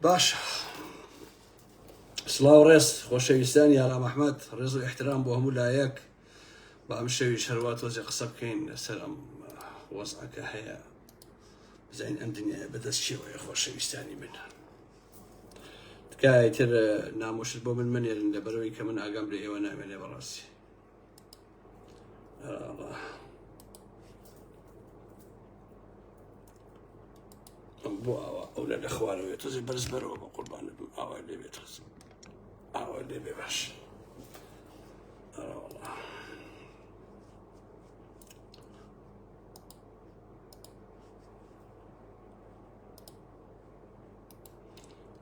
باشە سلااو ڕێز خۆشەویستان یارا مححمد ڕێز و احترام بۆ هەموو لایەک بە ئەم شەوی شەروا تۆزی قسە بکەین لەسەر ئەم وەزعەکە هەیە بزین ئەم دنیاە بەدەست چێوەیە خۆشەویستانی من تکایە تر نامۆشت بۆ من منێرن لە بەرەوەی کە من ئاگام لە ئێوە نامێنێ بەڕاستی بۆ ئاوا ئەو لە دەخوارەوەێت تۆزی بەرز بەرەوە بە قوربانە بم ئاوا لێ بێت خزم ئاوا لێ بێ باش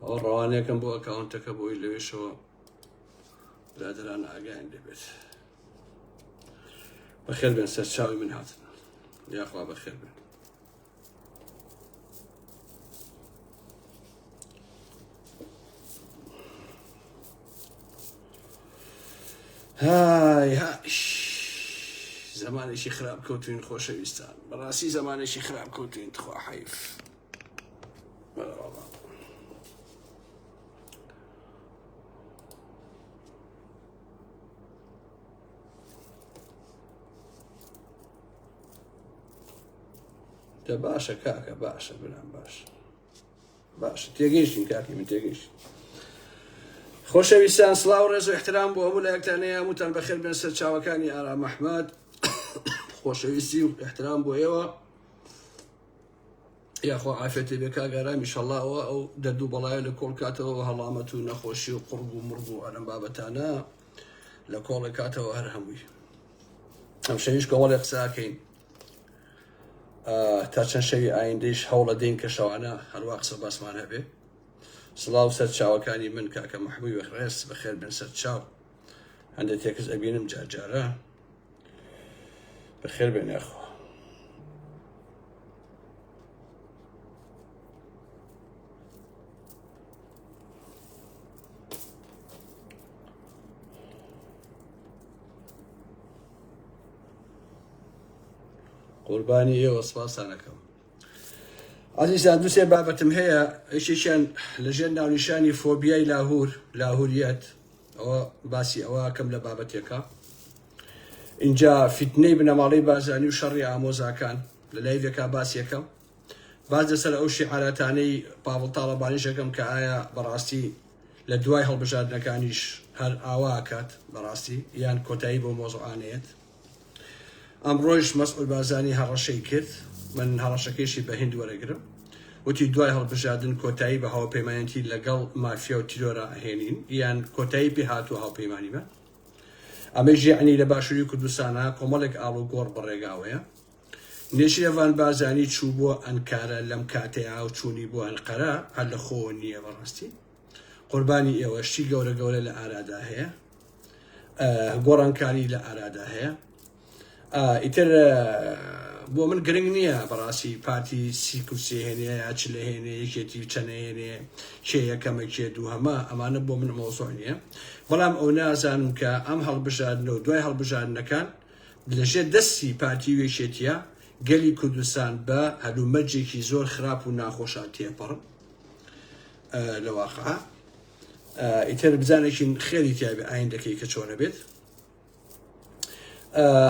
ئەو ڕەوانەکەم بۆ ئەکاونتەکە بۆی لەوێشەوە برادران ئاگایان لێبێت بەخێر بێن سەرچاوی من هاتن یاخوا بەخێر بێن های هاش زمانێکی خراپ کەوتوین خۆشەویستان بەڕاستی زمانێکی خراپ کەوتوین تخوا حیف دە باشە کاکە باشە بنام باش باش تێگەیشتین کاکی من تێگەیشت خۆشەویستان سلااو ڕێز و احترام بۆ هەموو لایەکتانەیە هەمووتان بەخێر بێن سەر چاوەکانی ئارا مححمد خۆشەویستی و احترام بۆ ئێوە یاخوا عافێتێ بێ کاگارام ئیشەڵا ئەوە ئەو دەرد و بەڵایە لە کۆڵ کاتەوە و هەڵامەت و نەخۆشی و قڕگ و مڕگ و ئەرم بابەتانە لە کۆڵێک کاتەوە هەر هەمووی ئەم شەویش کەوەڵێ قساکەین تا چەند شەوی ئایندەیش هەوڵە دەین کە شەوانە هەروە قسە باسمان هەبێ سڵاو سەر چاوەکانی من کاکە محبووی بەخڕێز بەخێر بن سەر چاو هەندێک تێکس ئەبینم جارجارە بەخێر بێن یاخوا قوربانی ئێوە سپاسانەکەم ئازیزان دوسێ بابەتم هەیە یشێکیان لەژێر ناونیشانی فۆبیای لاهور لاهوریەت ئەوە باسی ئەوە ئەکەم لە بابەتێکە ئینجا فیتنەی بنەماڵەی بارزانی و شەڕی ئامۆزاکان لە لایڤێکا باسێکە باز لەسەر ئەو شیعاراتانەی پاوڵ تاڵەبانیش ئەکەم کە ئایا بەڕاستی لە دوای هەڵبژاردنەکانیش هەر ئاوا ئەکات بەڕاستی یان کۆتایی بۆ مۆزوعانەیەت ئەمڕۆیش مەسعود بارزانی هەڕەشەی کرد من هەڕەشەکەیشی بە هند وەرەگرم وتی دوای هەڵبژاردن کۆتایی بە هاوپەیمانەتی لەگەڵ مافیا و تیرۆرا ئەهێنین یان کۆتایی پێ هاتووە هاوپەیمانیمان ئەمەی ژیعنی لە باشووری کوردستانە کۆمەڵێک ئاڵ و گۆڕ بەڕێگاوەیە نێچیرەڤان بارزانی چوو بۆ ئەنکارە لەم کاتەیە و چوونی بۆ ئەنقەرە هەر لە خۆوە نییە بەڕاستی قوربانی ئێوە شتی گەورە گەورە لە ئارادا هەیە گۆڕانکاری لە ئارادا هەیە ئیتر بۆ من گرنگ نییە بەڕاستی پارتی سی کورسی هێنێ یا چ لە هێنێ یەکێتی و چەنەێنێ کێ یەکەمە کێ دوو هەمە ئەمانە بۆ من مۆزۆ نییە بەڵام ئەو نازانم کە ئەم هەڵبژاردنە و دوای هەڵبژاردنەکان لەژێر دەستی پارتی وێشێتە گەلی کوردستان بە هەلومەرجێکی زۆر خراپ و ناخۆشە تێپەڕ لە واقع ئیتر بزانێکین خێری تیابێ ئاین دەکەی کە چۆنە بێت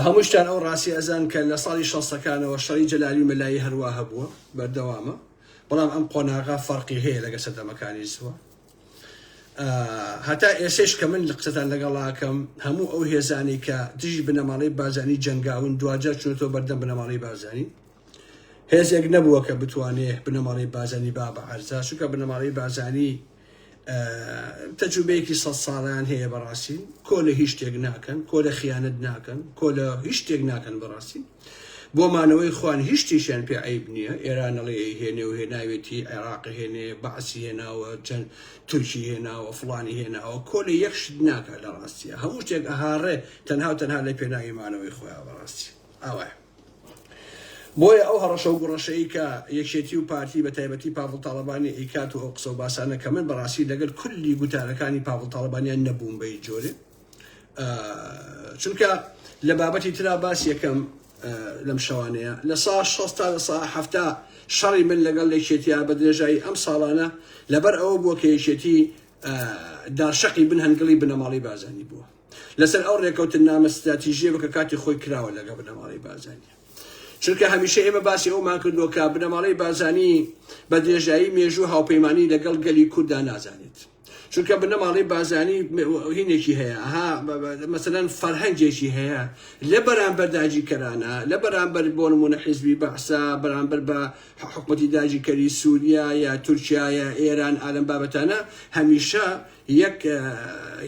هەمووشتان ئەو ڕاستی ئەزان کە لە ساڵی شەستەکانەوە شەڕی جەلالی مەلایی هەروە هەبووە بەردەوامە بەڵام ئەم قۆناغا فەرقی هەیە لەگە سەردەمەکانی سووە هەتا ئێسش کە من لە قسەتان لەگەڵاکەم هەموو ئەو هێزانی کە دژی بنەماڵی بازانی جەنگاون دواجار چونەوە بەردەم بنەماڵی بازانی هێزێک نەبووە کە بتوانێ بنەماڵەی بازانی با بە عەرزا چونکە بنەماڵەی بازانی تەجوبەیەکی سە ساڵیان هەیە بەڕاستی کۆ لە هیچ شتێک ناکەن کۆ لە خیانەت ناکەن کۆ لە هیچ شتێک ناکەن بەڕاستی بۆ مانەوەی خوان هیچ شتێکیان پێ عیب نییە ئێرانەڵی هێنێ و هێناوێتی عێراق هێنێ بەعسی هێناوە چەند تورکی هێناوە فلانی هێناوە کۆ لە یەک شت ناکە لە ڕاستیە هەموو شتێک ئەهاڕێ تەنها و تەنها لە پێناوی مانەوەی خۆیان بەڕاستی ئاوایە بۆیە ئەو هەڕەشە و گوڕەشەی کە یەکێتی و پارتی بە تایبەتی پاڤڵ تاڵەبانی ئەیکات و ئەو قسە و باسانە کە من بە ڕاستی لەگەل کلی گوتارەکانی پاڤڵ تاڵەبانیان نەبووم بە هیچ جۆرێ چونکە لە بابەتی ترا باس یەکەم لەم شەوانەیە لە سا شەست تا لە سا هەفتا شەڕی من لەگەڵ یەکێتیا بە درێژایی ئەم ساڵانە لەبەر ئەوە بووە کە یەکێتی داشەقی بن هەنگڵی بنەماڵی بازانی بووە لەسەر ئەو رێکەوتننامە ستراتیژیە بکە کاتی خۆی کراوە لەگەڵ بنەماڵەی بارزانی چونکە هەمیشە ئێمە باسی ئەومان کردووە کە بنەماڵەی بارزانی بە درێژایی مێژوو هاوپەیمانی لەگەڵ گەلی کورددا نازانێت چونکە بنەماڵەی بارزانی هینێکی هەیە ها مەسەەن فەرهەنگێکی هەیە لە بەرامبەر داگیرکەرانە لە بەرامبەر بۆ نمونە حیزبی بەعسا بەرامبەر بە حکومەتی داگیرکەری سووریا یا تورکیا یا ئێران ئالم بابەتانە هەمیشە یەک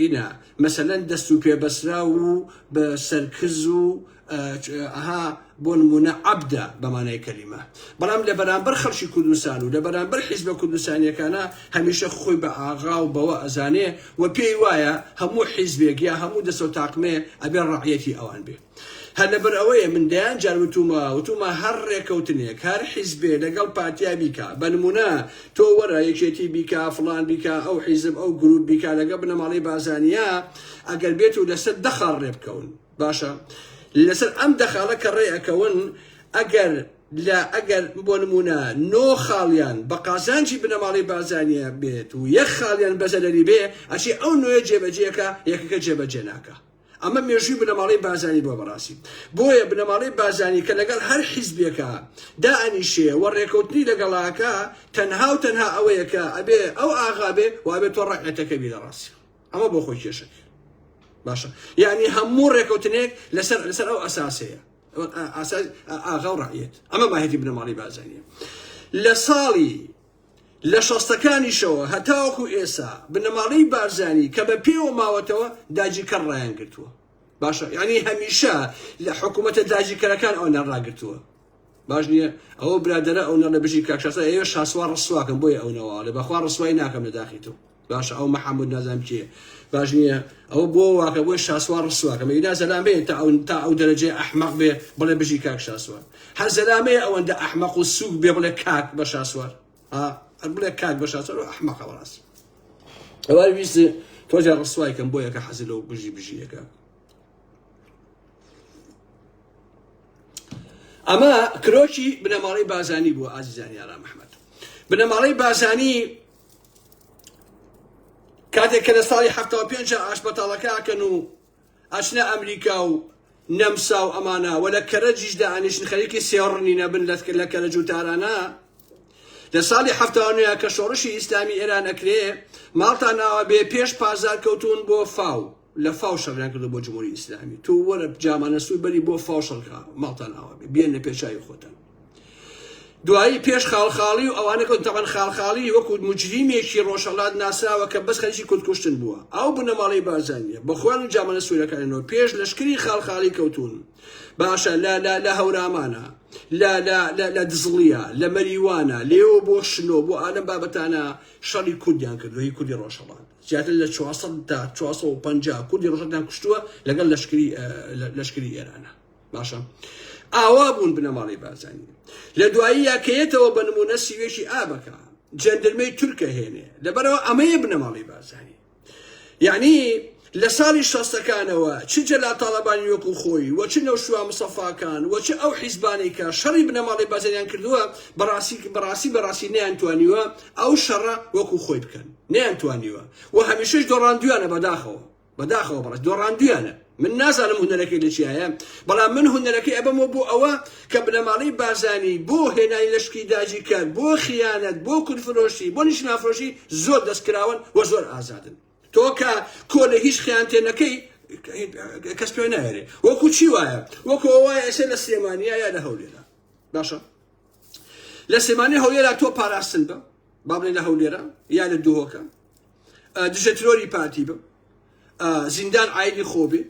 ینە مەسەلەن دەست و پێ بەسراو و بە سەر کز و ئەها بۆ نمونە عەبدە بە مانای کەلیمە بەڵام لە بەرامبەر خەڵکی کوردستان و لە بەرامبەر حیزبە کوردستانیەکانە هەمیشە خۆی بە ئاغا و بەوە ئەزانێ و پێی وایە هەموو حیزبێک یا هەموو دەستە و تاقمێ ئەبێ ڕەعیەتی ئەوان بێ. هەر لەبەر ئەوەیە من دەیان جار وتوومە وتوومە هەر ڕێکەوتنێک هەر حیزبێ لەگەڵ پارتیا بیکا بە نموونە تۆ وەرە یەکێتی بیکا فڵان بیکا ئەو حیزب ئەو گرووپ بیکا لەگە بنەماڵەی بازانیا ئەگەر بێت و لەسەر دە خاڵ ڕێ بکەون باشە لەسەر ئەم دە خاڵە کە ڕێ ئەکەون ئەگەر لە ئەگەر بۆ نموونە نۆ خاڵیان بە قازانجی بنەماڵەی بازانیە بێت و یەک خاڵیان بەزەرەری بێ ئەچی ئەو نوێ جێبەجێەکە یەکەکە جێبەجێ ناکە ئەمە مێژووی بنەماڵەی بارزانی بووە بەڕاستی بۆیە بنەماڵەی بارزانی کە لەگەڵ هەر حیزبێکا دائەنیشێ و ڕێکەوتنی لەگەڵاکە تەنها و تەنها ئەوەیە کە ئەبێ ئەو ئاغا بێ و ئەبێ تۆ ڕەعێتەکە بی لە ڕاستی ئەمە بۆ خۆی کێشەکە باشە یعنی هەموو ڕێکەوتنێک لەسەر لەسەر ئەو ئەساسەیە ئاساس ئاغا و ڕەعیەت ئەمە ماهێتی بنەماڵەی بارزانیە لە ساڵی لە شەستەکانیشەوە هەتاوەکو ئێسا بنەماڵەی بارزانی کە بە پێوە ماوەتەوە داگیرکەر ڕایان گرتووە باشە یعنی هەمیشە لە حکوومەتە داگیرکەرەکان ئەوەندە ڕاگرتووە باش نییە ئەوە برادەرە ئەوەندە لە بژی کاک شاسوار ئێوە شاسوار ڕسواکەن بۆیە ئەوەندە واڵێ بەخوا ڕسوای ناکەم لە داخی تۆ باشە ئەو محمود نازم کێ باش نییە ئەو بۆ واکە بۆی شاسوار ڕسوواکە مەیدا زەلامەیە تا ئەو تا ئەو دەرەجێ ئەحمەق بێ بڵێ بژی کاک شاسوار هەر زەلامەیە ئەوەندە ئەحمەق و سووک بێ بڵێ کاک بە شاسوار بڵێ کاک بە شاسوار و ئەحمەقە بەڕاست ئەوە ویست تۆجا ڕسوای کەم بۆ یەکە حەزی لەو بژی بژیەکە ئەمە کرۆکی بنەماڵی بازانی بوو ئازیزانی یارا مححمد بنەماڵی بازانی کاتێک کە لە ساڵی حەفتا و پێنج ئاشبەتاڵەکە ئەکەن و ئەچنە ئەمریکا و نەمسا و ئەمانە وە لە کەرەجیش دانیشن خەریکی سێڕنی نەبن لە کەرەج و تارانە لە ساڵی هەفتانوێ کە شۆڕشی ئیسلامی ئێران ئەکرێ ماڵتان ناوە بێ پێش پازار کەوتون بۆ فاو لە فاو شەڕیان کردوە بۆ جمهوری ئیسلامی تۆ وەرە جامانە سوور بەری بۆ فاو شەڕکا ماڵتان ئاوا بێ بێنە پێشاوی خۆتان دوایی پێش خاڵخاڵی و ئەوانە کە تەبەن خاڵخاڵی وەکو مجریمێکی ڕۆژهەڵات ناسراوە کە بەس خەریکی کوردکوشتن بووە ئەو بنەماڵەی بارزانیە بە خۆیان و جامانە سوورەکانەوە پێش لەشکری خاڵخاڵی کەوتون باشە لە لە لە هەورامانە لە لە لە لە دزڵیە لە مەریوانە لێوە بۆ شنۆ بۆ ئالەم بابەتانە شەڕی کوردیان کردو هی کوردی ڕۆژهەڵات زیاتر لە چوار سەد تا چوار سەد و پەنجا کوردی ڕۆژهەڵاتیان کوشتووە لەگەڵ لەشکری لەشکری ئێرانە. باشە ئاوا بوون بنەماڵەی بارزانی لە دواییە کەیەتەوە بە نمونە سیوێکی ئابەکە جەندرمەی تورکە هێنێ لەبەرەوە ئەمەیە بنەماڵەی بارزانی یعنی لە ساڵی شەستەکانەوە چ جەلا تاالبانی وەکو خۆی وە چ نەوشوا مسەفاکان وە چ ئەو حیزبانەی کە شەڕی بنەماڵی بازەریان کردووە بەڕاستی بەڕاستی بەڕاستی نیان توانیوە ئەو شەڕە وەکو خۆی بکەن نەیان توانیوە و هەمیشەش دۆڕاندویانە بەداخەوە بەداخەوە بەڕێز دۆڕاندویانە من نازانم هونەرەکەی لە چیایە بەڵام من هونەرەکەی ئەبەمەوە بۆ ئەوە کە بنەماڵەی بارزانی بۆ هێنای لەشکی داجی کار بۆ خیانەت بۆ کورفرۆشی بۆ نیشنافرۆشی زۆر دەستکراون و زۆر ئازادن تۆ کە کۆ لە هیچ خیانتێنەکەی کەس پێ ناێرێ وەکو چی وایە وەکو وایە ئێسە لە سلێمانیا یا لە هەولێرا باشە لە سلێمانی هەولێرا تۆ پاراستن بە با بڵێ لە هەولێرە یا لە دهۆکە دژە ترۆری پارتی بم زیندان ئایدی خۆبێ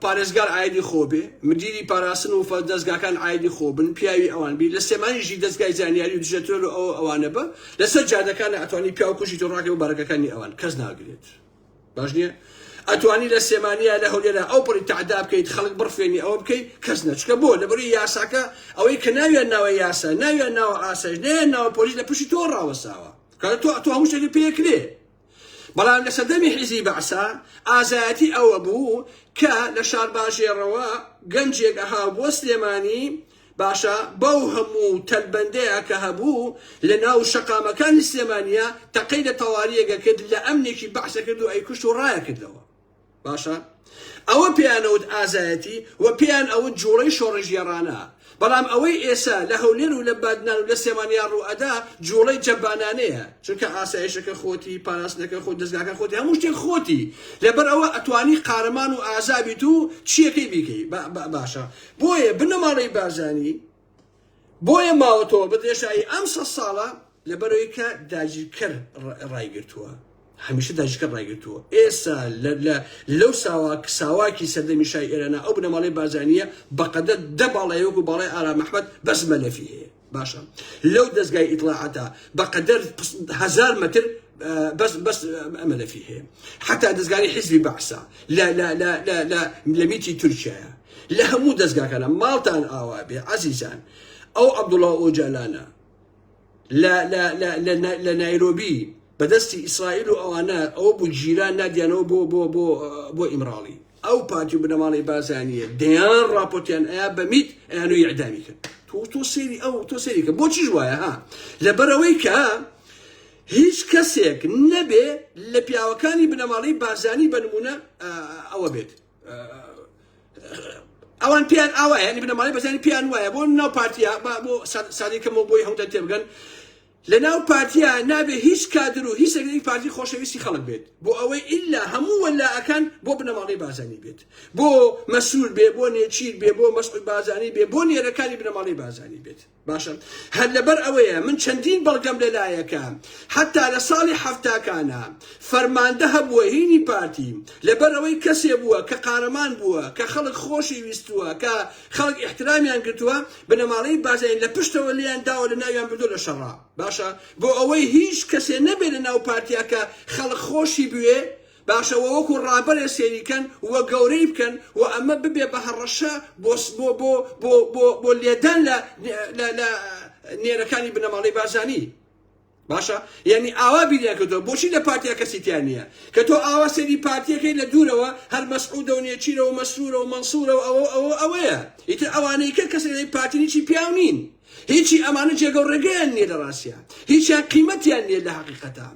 پارێزگار ئایدی خۆبێ مدیری پاراستن و فەر دەستگاکان ئایدی خۆبن پیاوی ئەوان بیر لە سێمانیژی دەستگای زانیاری و دژەتۆر و ئەو ئەوانە بە لەسەر جادەکان ئەتوانی پیاوکوژی تۆڕاکە و بەڕگەکانی ئەوان کەس ناگرێت باش نییە ئەتوانی لە سێمانیا لە هەولێرا ئەو پڕی تەعدا بکەیت خەڵک بڕفێنی ئەوە بکەیت کەس نەچکە بۆ لەبەروی یاساکە ئەوەی کە ناویان ناوە یاسا ناویان ناوە ئاسایش نیان ناوە پۆلیس لە پشتی تۆ ڕاوەساوە کار تۆ تۆ هەموو شتێکی پێکرێ بەڵام لە سەردەمی حیزی بەعسا ئازایەتی ئەوە بوو کە لە شارباژێڕەوە گەنجێک ئەها بۆ سلێمانی باشە بەو هەموو تەلبەندەیە کە هەبوو لە ناو شەقامەکانی سلێمانیە تەقەی لە تەواریەک ئەکرد لە ئەمنێکی بەعس ئەکرد و ئەیکوشت و ڕایەکردەوە باشە ئەوە پێیان ئەوت ئازایەتی و پێیان ئەوت جوڵەی شۆڕشگێڕانە بەڵام ئەوەی ئێسا لە هەولێر و لە بادنان و لە سلێمانیا ڕوو ئەدا جوڵەی جەبانانەیە چونکە ئاسایشەکە خۆتی پاراستنەکە خۆ دەستگاکە خۆتی هەموو شتێک خۆتی لەبەر ئەوە ئەتوانی قارەمان و ئازابیت و چیەکەی بیکەی باشە بۆیە بنەماڵەی بارزانی بۆیە ماوەتەوە بە درێژایی ئەم سە ساڵە لەبەرەوەی کە داگیرکەر ڕایگرتووە هەمیشە داگیرکەر ڕایگرتووە ئێستا لەو ساوا ساواکی سەردەمی شای ئێرانە ئەو بنەماڵەی بارزانیە بەقەدەر دە باڵای وەکو باڵای ئارام ئەحمەد بەس مەلەفی هەیە باشە لەو دەزگای ئیتلاعاتە بەقەدەر هزار مەتر بەس بەس ئەمە لەفی هەیە حتا دەستگاری حزبی بەعسا لە میتی تورکایە لە هەموو دەستگاکانە ماڵتان ئاوا بێ عزیزان ئەو عبدوڵا ئۆجالانە لە نایرۆبی بەدەستی ئیسرائیل و ئەوانە ئەوە بۆ گیران نادیانەوە بۆ بۆ بۆ بۆ ئیمراڵی ئەو پارتی و بنەماڵەی بارزانیە دەیان ڕاپۆرتیان ئەیا بە میت ئەیانوی ئیعدامی کرد تۆ تۆ سێری ئەو تۆ سێری کە بۆچیش وایە ها لەبەرەوەی کە هیچ کەسێک نەبێ لە پیاوەکانی بنەماڵەی بارزانی بە نمونە ئەوە بێت ئەوان پیان ئاوایە ینی بنەماڵەی بەزانی پیان وایە بۆ ناو پارتیا بۆ سادەکەمەوە بۆی هەموو تێبگەن لەناو پارتیا نابێ هیچ کادر و هیچ رێکخەری پارتی خۆشەویستی خەڵک بێت بۆ ئەوەی ئیلا هەموو وەلائەکان بۆ بنەماڵەی بارزانی بێت بۆ مەسرور بێ بۆ نێچیر بێ بۆ مەسعود بارزانی بێ بۆ نێرەکانی بنەماڵەی بارزانی بێت باشە هەر لەبەر ئەوەیە من چەندین بەڵگەم لەلایەکە حەتا لە ساڵی حەفتاکانا فەرماندە هەبووە هینی پارتی لەبەر ئەوەی کەسێ بووە کە قارەمان بووە کە خەڵک خۆشی ویستووە کە خەڵک ئیحترامیان گرتووە، بنەماڵەی بارزانی لە پشتەوە لێیان داوە لە ناویان بردووە لە شەڕا. باشە بۆ ئەوەی هیچ کەسێ نەبێ لە ناو پارتیا کە خەڵک خۆشی بوێ، باشە وە وەکو ڕابەرێ سەیری کەن و گەورەی بکەن و ئەمە ببێ بە هەڕەشە بۆ بۆ بۆ بۆ بۆ بۆ لێدان لە لە لە نێرەکانی بنەماڵەی بارزانی. باشە یانی ئاوا بیریان کردوە بۆچی لە پارتیا کەسی تیا نییە کە تۆ ئاوا سەیری پارتیەکەی لە دوورەوە هەر مەسعودە و نێچیرە و مەسرورە و مەنسورە و ئەوە ئەوە ئەوەیە ئیتر ئەوانەی کە کەسێک پارتینیی پیاو نین هیچی ئەمانە جێگە و ڕێگەیان نییە لە ڕاستە هیچیان قیمەتیان نییە لە حقیقەتە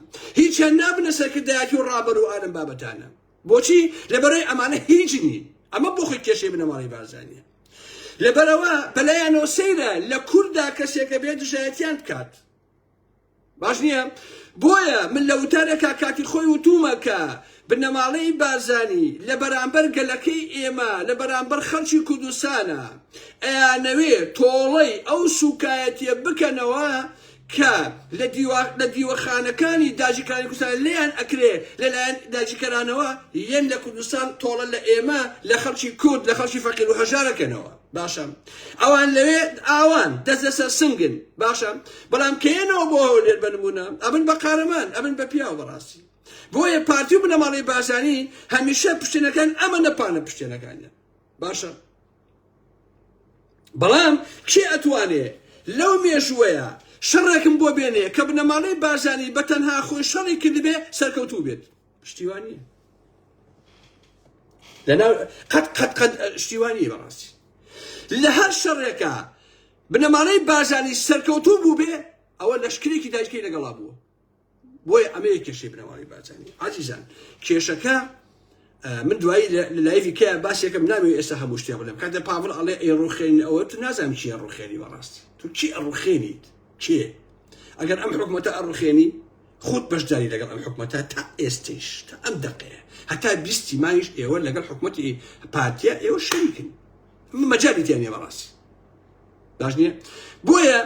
هیچیان نابنە سەرکردایەتی و ڕابەر و ئالم بابەتانە بۆچی لەبەرەی ئەمانە هیچ نین ئەمە بۆ خۆی کێشەی بنەماڵی بارزانیە لەبەرەوە بەلایەنەوە سەیرە لە کووردا کەسێکە بێ دژایەتیان بکات باش نییە بۆیە من لە وتارێکا کاتی خۆی وتومە کە بنەماڵەی بارزانی لە بەرامبەر گەلەکەی ئێمە لە بەرامبەر خەڵکی کوردستانە ئەیانەوێ تۆڵەی ئەو سوکایەتیە بکەنەوە کە لە دیوەخانەکانی داژیکانی کوردستان لێیان ئەکرێ لەلایەن داژیکەرانەوە یەن لە کوردستان تۆڵە لە ئێمە لە خەڵکی کورد لە خەڵکی فەقیر و هەژارەکەنەوە باشە ئەوان لەوێ ئاوان دەست لەسەر سنگن باشە بەڵام کەێنەوە بۆ هەولێر بنمونە ئەبن بە قارەمان ئەبن بە پیاو بەڕاستی بۆیە پارتی و بنەماڵی بازانی هەمیشە پشتێنەکان ئەمە نەپانە پشتێنەکانە باشە بەڵام کێ ئەتوانێ لەو مێژوەیە شەڕێکم بۆ بێنێ کە بنەماڵی بازانی بە تەنها خۆی شەڕی کردبێ سەرکەوتوو بێت پشتیوانی لەناو قەت قەت قەت شتیوانی بەڕاستی لە هەر شەڕێکە بنەمانەی بازانی سەرکەوتوو بوو بێ ئەوە لەشکرێکی دایکەی لەگەڵا بووە بۆیە ئەمە یە کێشەی بنەماڵی بازانی عزیزان کێشەکە من دوایی لایوی کە باسێکم ناوێ ئێستا هەموو شتێ بڵێم کاتە پاڤڵ ئەڵێ ئەی ڕوخێن ئەوە تو نازانم چیە ڕوخێنی بەڕاستی تو چی ئەڕوخێنیت چێ ئەگەر ئەم حکومەتە ئەڕوخێنی خۆت بەشداری لەگەڵ ئەم حکومەتە تا ئێستەیش تا ئەم دەقەیە هەتا بیستی مایش ئێوە لەگەڵ حکومەتی پارتیا ئێوە شەریکن مەجالی تیان نیە بەڕاستی باش نییە بۆیە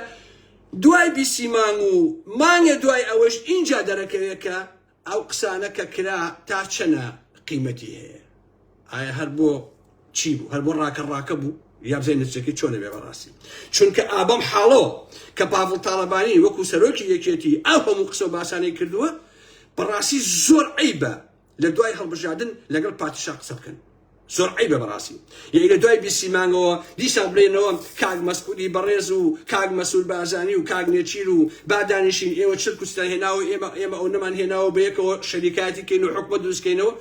دوای بیسی مانگ و مانگە دوای ئەوەش ئینجا دەرەکەوێت کە ئەو قسانە کە کرا تا چەنە قیمەتی هەیە ئایا هەر بۆ چی بوو هەر بۆ ڕاکە ڕاکە بوو یا بزای نرچەکەی چۆنە بێ بەڕاستی چونکە ئابەم حاڵەوە کە پاڤڵ تاڵەبانی وەکو سەرۆکی یەکێتی ئەو هەموو قسە و باسانەی کردووە بەڕاستی زۆر عیبە لە دوای هەڵبژاردن لەگەڵ پاتیشا قسە بکەن زۆر عیبە بەڕاستی یعنی لە دوای بیستی مانگەوە دیسان بڵێنەوە کاک مەسعودی بەڕێز و کاک مەسول بازانی و کاک نێچیر و بادانیشین ئێوە چرک و ستان هێناوە ئێمە ئێمە ئەو نەمان هێناوە بەیەکەوە شەریکایەتی کەین و حکومە دروستکەینەوە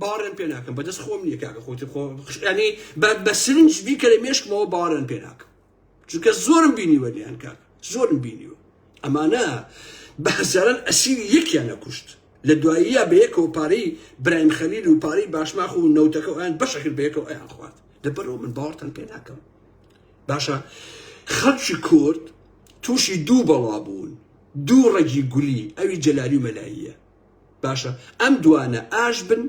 باوەڕێن پێ ناکەم بەدەست خۆم نییە کاکە خۆتی خۆ یعنی بە سرنج بیکەرە مێشکمەوە باوەڕێن پێ ناکەم چونکە زۆرم بینیوە نیان کاک زۆرم بینیوە ئەمانە بە هەزاران ئەسیری یەکیان نەکوشت لە دواییە بە یەکەوە پارەی برایم خەلیل و پارەی باشماخ و نەوتەکە ئەیان بەشەکرد بە یەکەوە ئەیان خوارد لەبەرەوە من باوەڕتان پێ ناکەم باشە خەڵکی کورد تووشی دوو بەڵا بوون دوو ڕەگی گولی ئەوی جەلالی و مەلاییە باشە ئەم دوانە ئاش بن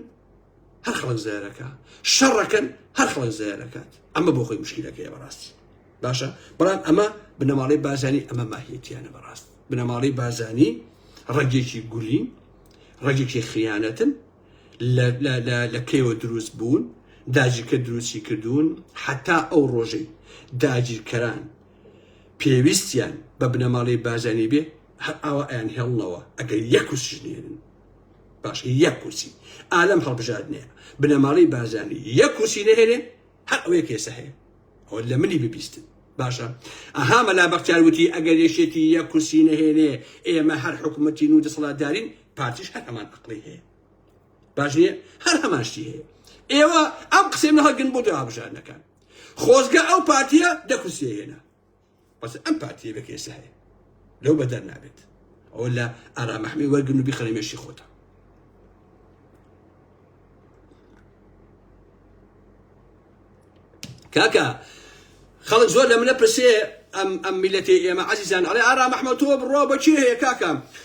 هەر خەڵک زیارەکە شەڕەکەن هەر خەڵک زیارەکات ئەمە بۆ خۆی مشکلەکەی بەڕاستی باشە بەڵام ئەمە بنەماڵی بازانی ئەمە ماهیەتیانە بەڕاست بنەماڵی بازانی ڕەگێکی گولین ڕەگێکی خیانەتن لە کێوە دروست بوون داجیکە دروستی کردوون حتا ئەو ڕۆژەی داگیرکەران پێویستیان بە بنەماڵەی بارزانی بێ هەر ئاوا ئەیانهێڵنەوە ئەگەر یەک کورسیش نێرن باش یەک کورسی ئالەم هەڵبژاردنەیە بنەماڵەی بارزانی یەک کورسی نەهێنێ هەر ئەوەیە کێسە هەیە ئەوە لە منی ببیستن باشە ئەها مەلا بەختیار وتی ئەگەر یەکێتی یەک کورسی نەهێنێ ئێمە هەر حکوومەتی و دەسەڵاتدارین پارتیش هەر هەمان عقلی هەیە باش نیە هەر هەمان شتی هەیە ئێوە ئەم قسەی منە هەگن بۆ دو هەبژارنەکان خۆزگە ئەو پارتیە دە کورسیە هێنا بەس ئەم پارتیە بە کێسە هەیە لەو بەدەر نابێت ئەو لە ئارامەحمی وەرگن و بیخەنە مێشی خۆتە کاکە خەڵک زۆر لە منە پرسێ ئەم ئەم میلەتی ئێمە عزیزان ئەڵێ ئارا مەحمەتۆ بڕۆ بەچێ هەیە کاکەم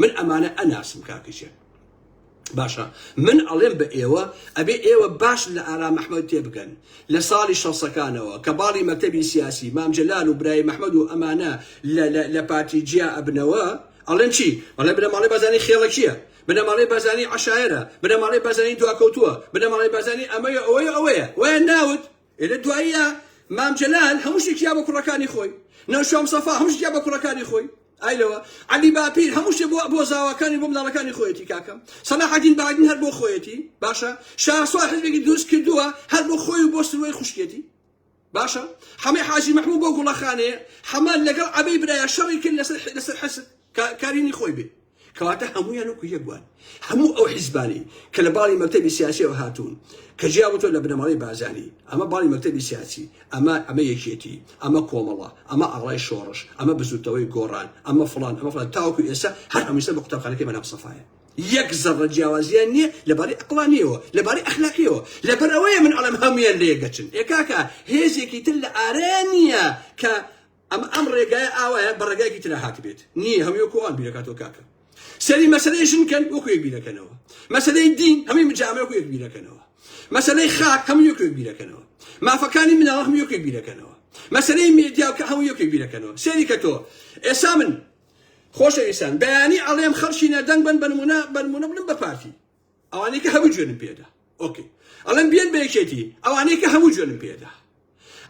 من ئەمانە ئەناسم کاکەجیان باشە من ئەڵێم بە ئێوە ئەبێ ئێوە باش لە ئارا مححمد تێبگەن لە ساڵی شەسەکانەوە کە باڵی مەکتتەبی سیاسی مامجلال و برای مححمد و ئەمانە لە پارتی جیا ئەبنەوە ئەڵێن چی ئەڵێ بنەماڵی بەزانی خێڵەکیە بنەماڵی بەزانی عشاعرە بنەماڵی بەزانی دواکەوتووە بنەماڵی بەزانی ئەمەیە ئەوەیە ئەوەیە وە ناوت ئێ لە دواییە مام جەلال هەموو شتێکی یا بۆ کوڕەکانی خۆی، نەوشام سەفا هەموو شتێکی یا بە کوڕەکانی خۆی، ئای لەوە عەلی باپیر هەموو شتێ بۆ بۆ زاواکانی بۆ مناڵەکانی خۆیەتی کاکەم سەلاحەدین بەهادین هەر بۆ خۆیەتی باشە شاسوار حزبێکی دروست کردووە هەر بۆ خۆی و بۆ سروەی خوشکێتی باشە حەمەی حاجی محمود بۆ گوڵەخانەیە حەمە لەگەڵ عەبەی برایە شەڕی کرد لەسەر لەسەر حسن کارینی خۆی بێ کەواتە هەموویان وەکو یەک بووان. هەموو ئەو حیزبانەی کە لە باڵی مەکتەبی سیاسیەوە هاتوون کە جیا بووتەوە لە بنەماڵەی بارزانی، ئەمە باڵی مەکتەبی سیاسی، ئەمە ئەمە یەکێتی، ئەمە کۆمەڵە، ئەمە ئاڵای شۆڕش، ئەمە بزووتنەوەی گۆڕان، ئەمە فڵان، ئەمە فڵان تاوەکو ئێستا هەر هەمووی سەر بە قوتابخانەکەی مەلا مستەفایە. یەک زەڕە جیاوازیان نیە لە باری ئەقڵانیەوە، لە باری ئەخلاقیەوە. لەبەر ئەوەیە من ئەڵێم هەموویان لە یەک دەچن. ئێ کاکە هێزێکی تر لە ئارەیان نیە کە ئەم ئەم ڕێگایە ئاوایە بە ڕێگایەکی ترا هاتبێت نییە هەمووی وەکو ئەوان بیرەکاتەوە کاکە سەری مەسەلەی ژن کەن وەکو یەک بیرەکەنەوە مەسەلەی دین هەمووی مجامە وەکو یەک بیرەکەنەوە مەسەلەی خاک هەموو یەک یەک بیرەکەنەوە مافەکانی مناڵ هەموو یەک یەک بیرەکەنەوە مەسەلەی مێدیا کە هەموو یەک یەک بیرەکەنەوە سەری کە تۆ ئێسا من خۆشەویستان بەیانی ئەڵێم خەڵکی نەدەنگ بن بنمونە بنمونە بڵم بە پارتی ئەوانەی کە هەموو جوێنم پێدا ئۆکی ئەڵێن بێن بە یەکێتی ئەوانەی کە هەموو جوێنم پێدا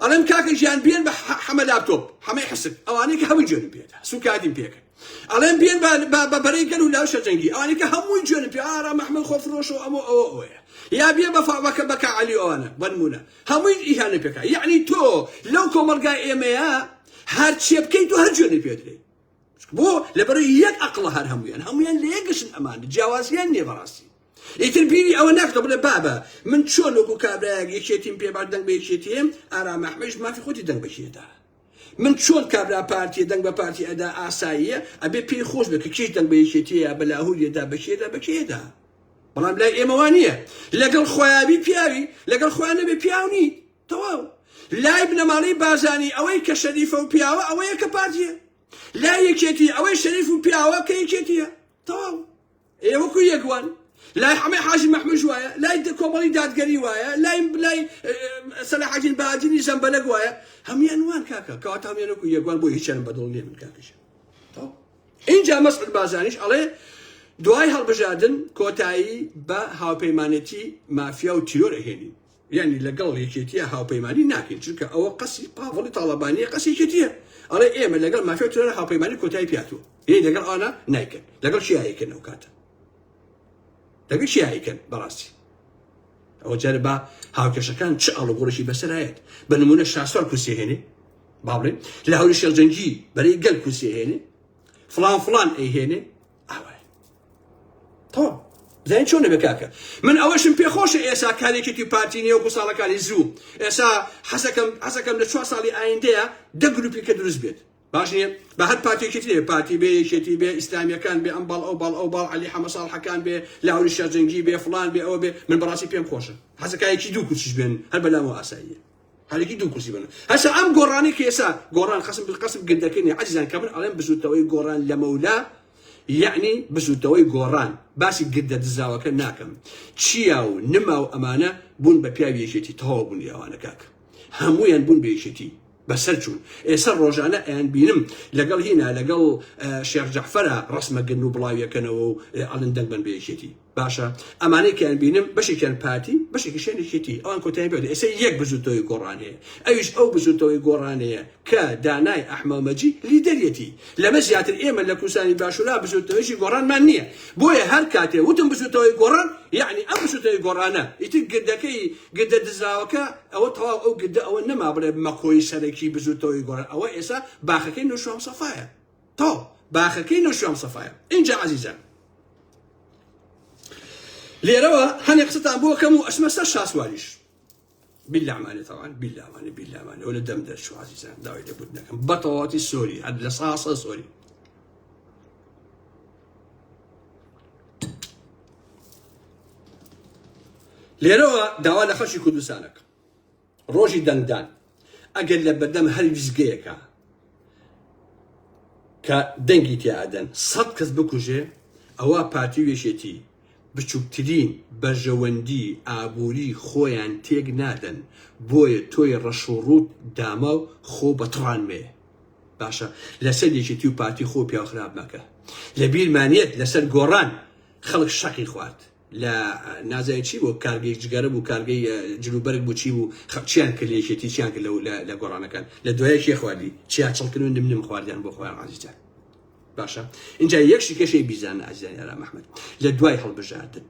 ئەڵێن کاکە ژیان بێن بە حەمە لاپتۆپ حەمەی حسک ئەوانەی کە هەموو جوێنم پێدا سوکادیم پێکرد ئەڵێن بێن بە بەرەی گەل و لاوشە جەنگی ئەوانەی کە هەمووی جوێنم پێ ئارا محمد خۆفرۆشەوە ئەمە ئەوە ئەوەیە یا بێ بەفاوەکە بەکە علی ئەوانە بەنمونە هەمووی ئیهانە پێکا یعنی تۆ لەو کۆمەلگای ئێمەیە هەرچێ بکەیت و هەر جوێنی پێدرێت بۆ لەبەر یەک ئەقڵە هەر هەمویان هەمویان لە یەکگەشن ئەمان جیاوازیان نیە بەڕاستی ئیتر بیری ئەوە ناکە بڵێ بابە من چۆن وەکو کابراەک یەکێتیم پێ باش دەنگ بە یەکێتیم ئارام ئەحمەش مافی خۆتی دەنگ بەکێدا من چۆن کابرا پارتی دەنگ بە پارتی ئەدا ئاساییە ئەبێ پێی خۆش بێت کە کێش دەنگ بە یەکێتیە بە لاهوریەدا بەکێدا بەکێدا بەڵام لای ئێمەوان نییە لەگەڵ خۆیابی پیاوی لەگەڵ خۆیان نەبێ پیاونی تەواو لای بنەماڵەی بارزانی ئەوەی کە شەریفە و پیاوە ئەوەیە کە پارتیە لای یەکێتی ئەوەی شەریف و پیاوە کە یەکێتیە تەواو ئێ وەکو یەکوان لای حەمەی حاجی مەحموش وایە لای کۆمەڵی دادگەری وایە لای لای سەلاحەدین بادینی زەمبەلەک وایە هەموان وان کاکە کەواتە هەموان وەکو یەکوان بۆ هیچیان بەدڵ نیە من کاکەش اینجا مەسعود بازانیش ئەڵێ دوای هەڵبژاردن کۆتایی بە هاوپەیمانێتی مافیا و تیرۆر ئەهێنین یانی لەگەڵ یەکێتیە هاوپەیمانی ناکەین چونکە ئەوە قەسی پاڤڵی تاڵەبانیە قەسی یەکێتیە ئەڵێ ئێمە لەگەڵ مافیاو ترۆرە هاوپەیمانی کۆتای پیاتوە یەی لەگەڵ ئانا نایکەن لەگەڵ چیا یەکەن ئەو کاتە لەگەڵ چیا یەکەن بەڕاستی ئەوە جارە با هاوکێشەکان چ ئاڵوگۆڕێکی بەسەرایەت بە نمونە شاسوار کورسی هێنێ باڵێ لە هەوری شێخجەنگی بەرەی گەل کورسی هێنێ فلان فلان ئەیهێنێ زین چۆن دەبێت کاکە من ئەوەشم پێخۆشە ئێسا کارێکێکی پارتی نیە وەکو ساڵەکانی زوو ئێسا حەزەکەم حەزەکەم لە چوار ساڵی ئایندەیە دە گروپی کە دروست بێت باش نیە بە هەر پارتێکی ترێ پارتی بێ یەکێتی بێ ئیسلامیەکان بێ ئەم باڵ ئەو باڵ ئەو باڵ علی حەمە ساڵحەکان بێ لاوری شەرجەنگی بێ فلان بێ ئەوە بێ من بەڕاستی پێم خۆشە حەزەکایەکی دوو کوچش بێن هەر بەلامەوە ئاساییە هەرەکی دوو کورسی بەنە هەسا ئەم گۆڕانی کێسا گۆڕان قسم قسم گردەکەنی عزیزان کە من ئەڵێم بزوتەوەی گۆڕان لە مەولا یعنی بزوتەوەی گۆڕان باسی گردە دزاوەکە ناکەم چیا و نما و ئەمانە بوون بە پیاوی یەکێتی تەواو بوون یاوانە کاک هەمویان بوون بە یەکێتی بەسەر چوون ئێستا ڕۆژانە ئەیان بینم لەگەڵ هینا لەگەڵ شێخ جەحفەرە ڕسمەگرن و بڵاویەکەنەوە و ئەڵندەنگ بن بە یەکێتی باشە ئەمانەی کە ئەبینم بەشێکیان پارتی بەشێکیشیان یەکێتی ئەوان کۆتاییان پێ دێ ئێستا یەک بزووتنەوەی گۆڕان هەیە ئەویش ئەو بزووتنەوەی گۆڕانەیە کە دانای ئەحمەمەجی لیدەریەتی لەمە زیاتر ئێمە لە کوردستانی باشوورا بزووتنەوەیەکی گۆڕانمان نییە بۆیە هەر کاتێ وتم بزووتنەوەی گۆڕان یەعنی ئەم بزووتنەوەی گۆڕانە ئیتر گردەکەی گردە دزراوەکە ئەوە تەواو ئەو گردە ئەوە نەما بڵێ مەکۆی سەرەکی بزووتنەوەی گۆڕان ئەوە ئێستا باخەکەی نوشام سەفایە تۆ باخەکەی نەوشیروان سەفایە ئینجا عەزیزان لێرەوە هەنێ قسەتان بۆ کەم و ئەچمە سەر شاسواریش بیلامانێ تاوان بیلامانێ بیلامانێ ئەو لە دەم دەرچوو عزیزان داوای لێبوت نەکەم بەتەواتی سۆری هەر لە ساسە سۆری لێرەوە داوا لە خەشی کوردستانەکە ڕۆژی دەنگدان ئەگەر لە بەردەم هەر ویستگەیەکا کە دەنگی تیا ئەدەن سەد کەس بکوژێ ئەوە پارتی و یەکێتی بچووکترین بەرژەوەندی ئابووری خۆیان تێک نادەن بۆیە تۆی ڕەش و ڕووت داما و خۆ بە تڕان مەیە باشە لەسەر یەکێتی و پارتی خۆ پیاو خراپ مەکە لە بیرمان یەت لەسەر گۆڕان خەڵک شەقی خوارد لە نازای چی بوو کارگەی جگەرە بوو کارگەی جلوبەرگ بوو چی بوو خەپ چیان کرد لە یەکێتی چیان کرد لە لە گۆڕانەکان لە دوایە کێ خواردی چیا چڵکن و نم نم خواردیان بۆ خۆیان عزیزان باشە اینجا یەک شیکەشەی بیزان عزیزان یارا محمد لە دوای هەڵبژاردن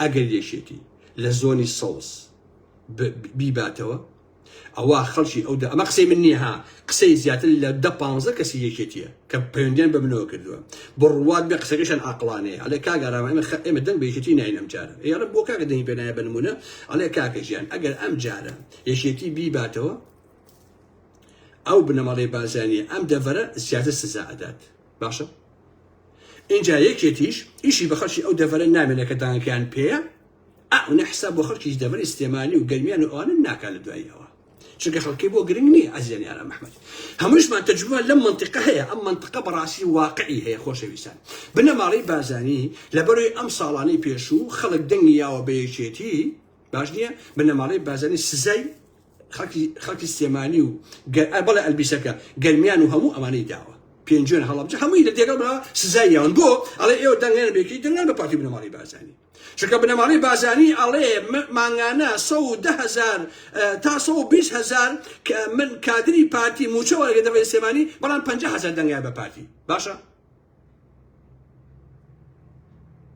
ئەگەر یەکێتی لە زۆنی سەوز بیباتەوە ئەوا خەڵکی ئەو دە ئەمە قسەی من نییە ها قسەی زیاتر لە دە پانزە کەسی یەکێتیە کە پەیوەندیان بە منەوە کردووە بڕوات بێ قسەکەشان ئاقڵانەیە ئەڵێ کاک ئارام ئێمە خە ئێمە دەنگ بە یەکێتی ناین ئەمجارە ئەی ئەڵێ بۆ کاکە دەنگی پێ نایە بە نموونە ئەڵێ کاکە گیان ئەگەر ئەمجارە یەکێتی بیباتەوە ئەو بنەماڵەی بارزانیە ئەم دەڤەرە زیاتر سزا ئەدات باشە ئینجا یەکێتیش ئیشی بە خەڵکی ئەو دەڤەرە نامێنە کە دانگەکەیان پێیە ئەونە حساب بۆ خەڵکیش دەڤەری سلێمانی و گەرمیان و ئەوانە ناکا لە دوای ئەوە چونکە خەڵکی بۆ گرنگ نییە ئەزیزیان یارام ئەحمەد هەمووشمان تەجروبە لەم منطقە هەیە ئەم منطقە بەڕاستی واقعی هەیە خۆشەویستان بنەماڵەی بارزانی لەبەرەوەی ئەم ساڵانەی پێشوو خەڵک دەنگی یاوە بە یەکێتی باش نییە بنەماڵەی بارزانی سزای خەڵکی خەڵکی سلێمانی و بەڵێ ئەلبیسەکە گەرمیان و هەموو ئەمانەی داوە پێنجوێن هەڵەبجە هەمووی لە دێگەڵ سزای یاون بۆ ئەڵێ ئێوە دەنگێن بێکی دەنگان بە پارتی بنەماڵەی بارزانی چونکە بنەماڵەی بازانی ئەڵێ مانگانە سەد و دە هەزار تا سەد و بیست هەزار من کادری پارتی موچە وەرگرم دەبە لە سلێمانی بەڵام پەنجا هەزار دەنگایە بە پارتی باشە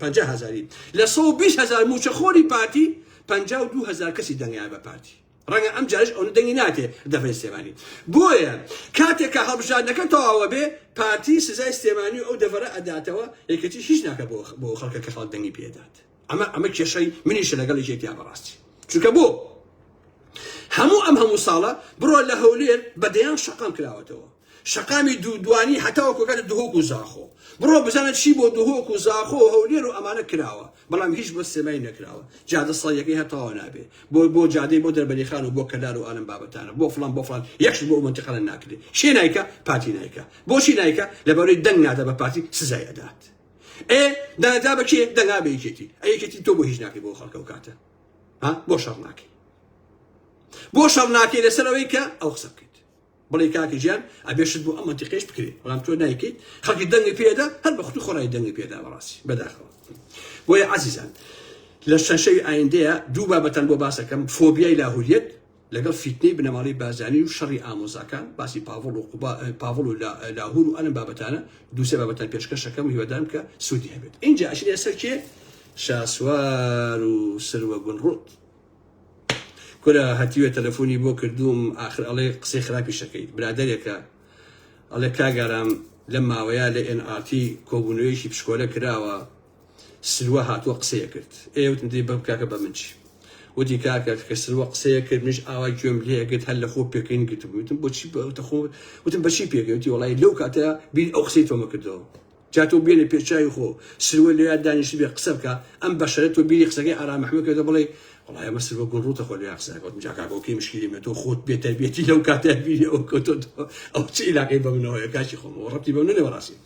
پەنجا هەزاری لە سەد و بیست هەزار موچەخۆری پارتی پەنجا و دوو هەزار کەسی دەنگایە بە پارتی ڕەنگە ئەم جارەش ئەونە دەنگی ناتێ دەڤەی سلێمانی بۆیە کاتێک کە هەڵبژاردنەکە تەواوە بێ پارتی سزای سلێمانی و ئەو دەڤەرە ئەداتەوە یەکێتی هیچ ناکە بۆ بۆ خەڵکە کە خەڵک دەنگی پێدات ئەمە ئەمە کێشەی منیشە لەگەڵ یەکێتیا بەڕاستی چونکە بۆ هەموو ئەم هەموو ساڵە بڕۆ لە هەولێر بەدەیان شەقام کراوەتەوە شەقامی دوو دوانی هەتاوەکو ئەگاتە دهۆک و زاخۆ بڕۆ بزانە چی بۆ دهۆک و زاخۆ و هەولێر و ئەمانە کراوە بەڵام هیچ بۆ سلێمانی نەکراوە جادە سەدیەکەی هەر تەواو نابێ بۆ بۆ جادەی بۆ دەربەری خان و بۆ کەلار و ئالەم بابەتانە بۆ فڵان بۆ فڵان یەکش بۆ ئەو مەنتیقانە ناکرێ کێ نایکا پارتی نایکا بۆچی نایکا لەبەرەی دەنگ نادا بە پارتی سزای ئەدات ئێ دەنگدا بە کێ دەنگا بە یەکێتی ئەی یەکێتی تۆ بۆ هیچ ناکەی بۆ خەڵکە و کاتە ها بۆ شەڕ ناکەی بۆ شەڕ ناکەی لەسەر ئەوەی کە ئەو قسە بکەی بڵێی کاکە گیان ئەبێ شت بۆ ئەم مەنتیقەیش بکرێ بەڵام تۆ نایکەیت خەڵکی دەنگی پێ ئەدا هەر بە خوتو خۆڕای دەنگی پێ ئەدا بەڕاستی بەداخەوە بۆیە عەزیزان لە چەند شەوی ئایندەیە دوو بابەتان بۆ باسەکەم فۆبیای لاهوریەت لەگەڵ فیتنەی بنەماڵەی بازانی و شەڕی ئامۆزاکان باسی پاڤڵ و قوبا پاڤڵ و لاهور و ئەلم بابەتانە دووسێ بابەتان پێشکەشەکەم و هیوادارم کە سوودی هەبێت اینجا ئەشینە سەرکێ شاسوار و سروە گونڕوت کورە هەتیوە تەلەفۆنی بۆ کردووم ئاخر ئەڵێ قسەی خراپیش ئەکەیت برادەرێکە ئەڵێ کاک ئارام لەم ماوەیە لە ئێن ئار تی کۆبوونەوەیەکی پشکۆلە کراوە سروە هاتووە قسەیە کرد ئێ وتم دەی بەم کاکە بە من چی وتی کاکە کە سروە قسەیە کرد منیش ئاوا گوێم لێ ئەگرت هەر لە خۆ پێکەین گرتبوو وتم بۆچی بە وتە خۆ وتم بەچی پێکەی وتی وەڵای لەو کاتە بیر ئەو قسەی تۆمە کردەوە جا تۆ بێنە پێ چاوی خۆ سروە لەوێ دانیشتبێ قسە بکە ئەم بەشەرە تۆ بیری قسەکەی ئارام احمد کردە بڵێی وەڵای ئەمە سروە گوڵ ڕووتە خۆ لەوێ قسە نەکەوتم جا کاکۆ کەی مشکلی من تۆ خۆت بێ تەربیەتی لەو کاتە بیری ئەوە کەوتۆتەوە ئەو چ عیلاقەی بە منەوە هەیە کاکی خۆم وە ڕەبتی بە منە بەڕاستی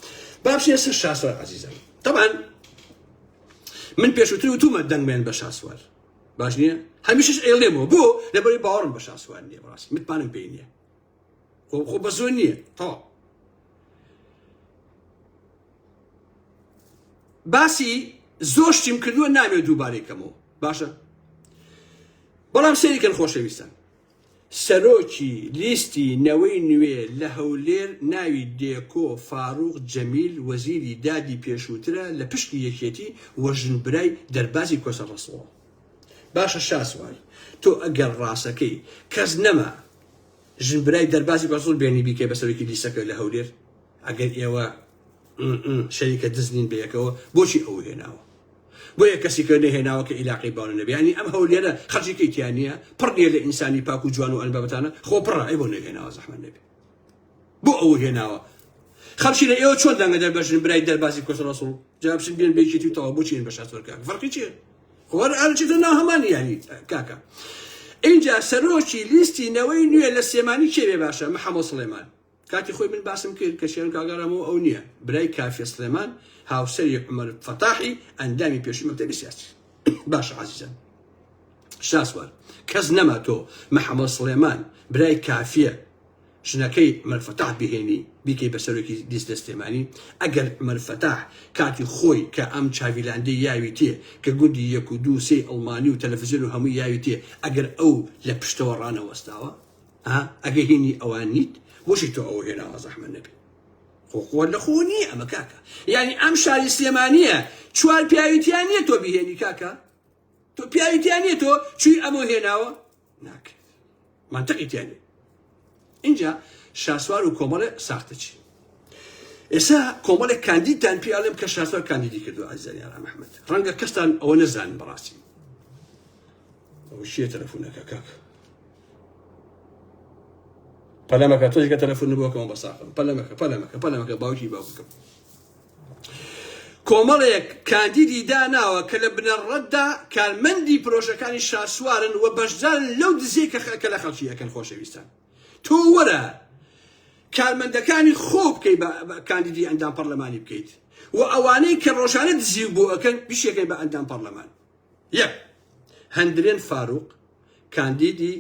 با بچینە سەر شاسوار عەزیزم طبعا من پێشوتر وتومە دەنگمێن بە شاسوار باش نییە هەمیشش ئێڵێمەوە بۆ لەبەری باوەڕم بە شاسوار نییە بەڕاستی متمانەم پێی نییە خۆ خۆ بەسۆ نییە تەواو باسی زۆر شتیم کردووە نامێ دووبارەی کەمەوە باشە بەڵام سەریکەن خۆشەویستان سەرۆکی لیستی نەوەی نوێ لە هەولێر ناوی دێکۆ فاروق جەمیل وەزیری دادی پێشووترە لە پشکی یەکێتی وەژن برای دەربازی کۆسە ڕسڵەوە باشە شاسوار تۆ ئەگەر ڕاستەکەی کەس نەما ژن برای دەربازی بەزوڵ بێنی بیکەی بە سەرۆکی لیسەکە لە هەولێر ئەگەر ئێوە شەریکە دزنین بە یەکەوە بۆچی ئەو هێناوە بۆ یە کەسی کە نەهێناوە کە عیلاقی باوە نەبیانی ئەم هەولێرە خەجیکەی تیانە پڕنیە لە ئینسانی پاک و جوان و ئەلبابەتانە خۆ پڕە ئەی بۆ نەهێناوە زەحمە نەبێ بۆ ئەوە هێناوە خەڵکی لە ئێوە چۆن دەنگە دەربەژن برای دەربازی کۆسە ڕسوڵ جواب بچن بێن بێکێتی و تەوا بچین بە شاسۆر کاک فەرقی چیە خۆر ئەرچێت ناو هەمان یاری کاکە اینجا سەرۆکی لیستی نەوەی نوێ لە سێمانی کێوێ باشە محەمۆ سڵێمان کاتی خۆی من باسم کرد کە شێن کاگەڕەمەوە ئەو نییە برای کافێ سلێمان هاوسەری عمر فەتاحی ئەندامی پێشی مەکتەبی سیاسی باش عزیزم شاسوار کەس نەما تۆ محەمۆ سلێمان برای کافیە ژنەکەی عومەر فەتاح بهێنی بیکەی بە سەرۆکی لیست لە سلێمانی ئەگەر عومەر فەتاح کاتی خۆی کە ئەم چاڤیلاندەی یاوی تێ کە گوندی یەک و دوو سێی ئەڵمانی و تەلەفزیۆن و هەمووی یاوی تێ ئەگەر ئەو لە پشتەوە ڕانەوەستاوە ها ئەگەر هینی ئەوان نیت بۆچی تۆ ئەو هێناوە زەحمەت نەبێ خۆ خۆ لە خۆ نییە ئەمە کاکە یعنی ئەم شاری سلێمانیە چوار پیاوی تیا نییە تۆ بهێنی کاکە تۆ پیاوی تیا نییە تۆ چوی ئەمە هێناوە ناکرێت منتقی تیا نیە اینجا شاسوار و کۆمەڵێ ساختە چی ئێستا کۆمەڵێک کاندیدتان پێ ئەڵێم کە شاسوار کاندیدی کردو ئازاری ئارام ئەحمەد ڕەنگە کەستان ئەوە نەزان بەڕاستی ئەو شیە تەلەفۆنەکە کاک پەلەمەکە تۆشگە تەلەفۆن بۆکەم بەساقم پەلەمەکە پەلەمەکە پەلەمەکە باوکی باوکم کۆمەڵێک کاندیدی داناوە کە لە بنەڕەتدا کارمەندی پرۆژەکانی شاسوارن و بەشدارن لەو دزیەی کە لە خەڵکی ئەکەن خۆشەویستان تۆ وەرە کارمەندەکانی خۆ بکەی بە کاندیدی ئەندام پەرلەمانی بکەیت و ئەوانەی کە ڕۆژانە دزی بۆ ئەکەن بیشەکەی بە ئەندام پەرلەمان یەک، هەندرێن فاروق، کاندیدی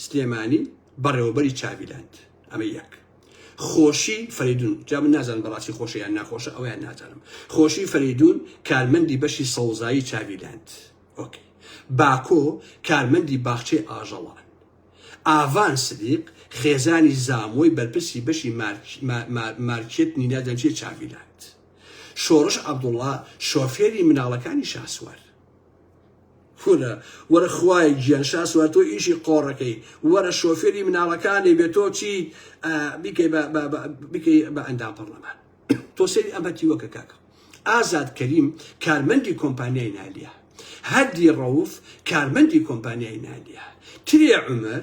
سلێمانی، بەڕێوەبەری چاڤیلاند. ئەمە یەک. خۆشی فەرەیدون، جا من نازانم بەڕاستی خۆشە یان ناخۆشە، ئەوەیان نازانم. خۆشی فەرەیدون، کارمەندی بەشی سەوزایی چاڤیلاند. ئۆکەی. باکۆ، کارمەندی باخچەی ئاژەڵان. ئاڤان سدیق، خێزانی زامۆی بەرپرسی بەشی مارکێتنی نازانم چییە چاڤیلاند. شۆڕش عەبدوڵا شۆفێری مناڵەکانی شاسوار. کورە وەرە خوایە گیان شاسوار تۆ ئیشی قۆڕەکەی وەرە شۆفێری مناڵەکانی بێ تۆ چیت ئا، بیکەی بە بە بە بیکەی بە ئەندام پەڕلەمان تۆ سەیری ئەم هەتیوەکە کاکە ئازاد کەریم کارمەندی کۆمپانیای نالیا هەردی ڕەوف کارمەندی کۆمپانیای نالیا ترێ عومەر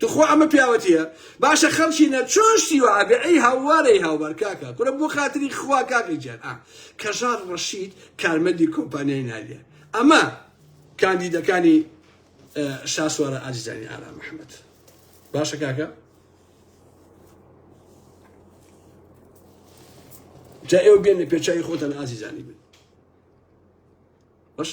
توخوا ئەمە پیاوەتیە باشە خەڵکینە چۆن شتی وەها بێ ئەی هاووارە ی هاوبار کاکە کورە بۆ خاتری خوا کاکە گیان ئا کەژاڵ ڕەشید کارمەندی کۆمپانیای نالیە ئەمە کاندیدەکانی شاسوارە ئازیزانی ئارام محمد باشە کاکە جا ئێوە بێن لە پێچوی خۆتان ئازیزانی بن باش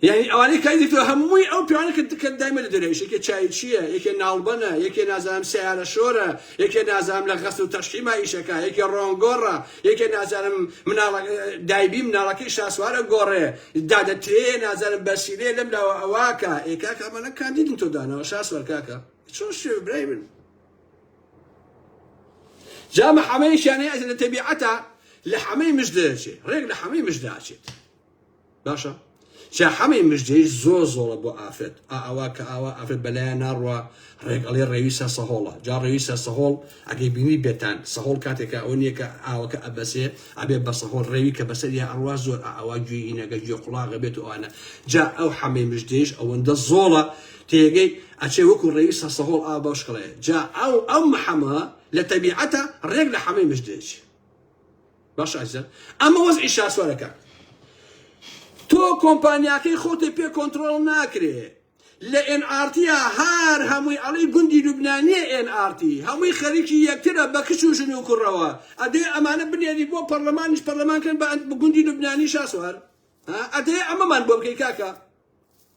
یعنی ئەوانەی کاری دیکتۆ هەمووی ئەو پیاوانە کە دکە دایمە لە دەرەوە یەکێ چایچییە یەکێ ناڵبەنە یەکێ نازانم سیارە شۆرە یەکێ نازانم لە غەسل و تەشحیما ئیشەکە یەکێ ڕۆنگۆڕە یەکێ نازانم مناڵە دایبی مناڵەکەی شاسوارە گۆڕێ دادەترێ نازانم بەسیرێ لەم لاوە ئەواکە ئێکاکە ئەمانە کاندیدن تۆ دانەوە شاسوار کاکە چۆن شێ برای من جا مە حەمەیش یانەی ئەچێت لە تەبیعەتە لە حەمەی مش دەچێت ڕێک لە حەمەی مش داچێت باشە جا حەمەی مژدەیش زۆر زۆڵە بۆ ئافرەت ئاوا کە ئاوا ئافرەت بەلایە ناڕوە ڕێگەڵێ ڕێوی سەر سەهۆڵە جا ڕێوی سەر سەهۆڵ ئەگەی بینی بێتان سەهۆڵ کاتێکە ئەوە نییە کە ئاوەکە ئەبەسێ ئەبێ بە سەهۆڵ ڕێوی کە بەسەر یا ئەڕوا زۆر ئاوا گوێینەگە گوێ قوڵاغە بێت و ئەوانە جا ئەو حەمەی مژدەیش ئەوەندە زۆڵە تێگەی ئەچێ وەکو ڕێوی سەرسەهۆڵ ئاو بەوشکڵەیە جا ئەو ئەم حەمە لە تەبیعەتە ڕێک لە حەمەی مژ دێچێ باش ئازیزان ئەمە وەزعی شاسوارەکە تۆ کۆمپانیاکەی خۆتی پێ کۆنتترۆل ناکرێ لە ئێنعاتیا هەر هەمووی ئەڵی گوندی لوبنانیە ئێنعاتی هەمووی خەریکی یەکترە بە کچ و ژن و کوڕەوە ئەدێ ئەمانە بنێری بۆ پەرلەمانیش پەرلەمانکەن بە گوندی لوبنانی شاسوار ئەدێ ئەمەمان بۆ بکەی کاکە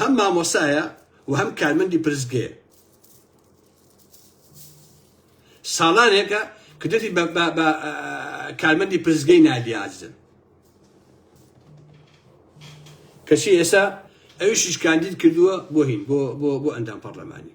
هەم مامۆستایە و هەم کارمەندی پرسگەیە ساڵانێکە کردی بە کارمەندی پرسگەی نادیازن کەچی ئێستا ئەویشیش کاندید کردووە بۆ هین بۆ ئەندام پەرلەمانی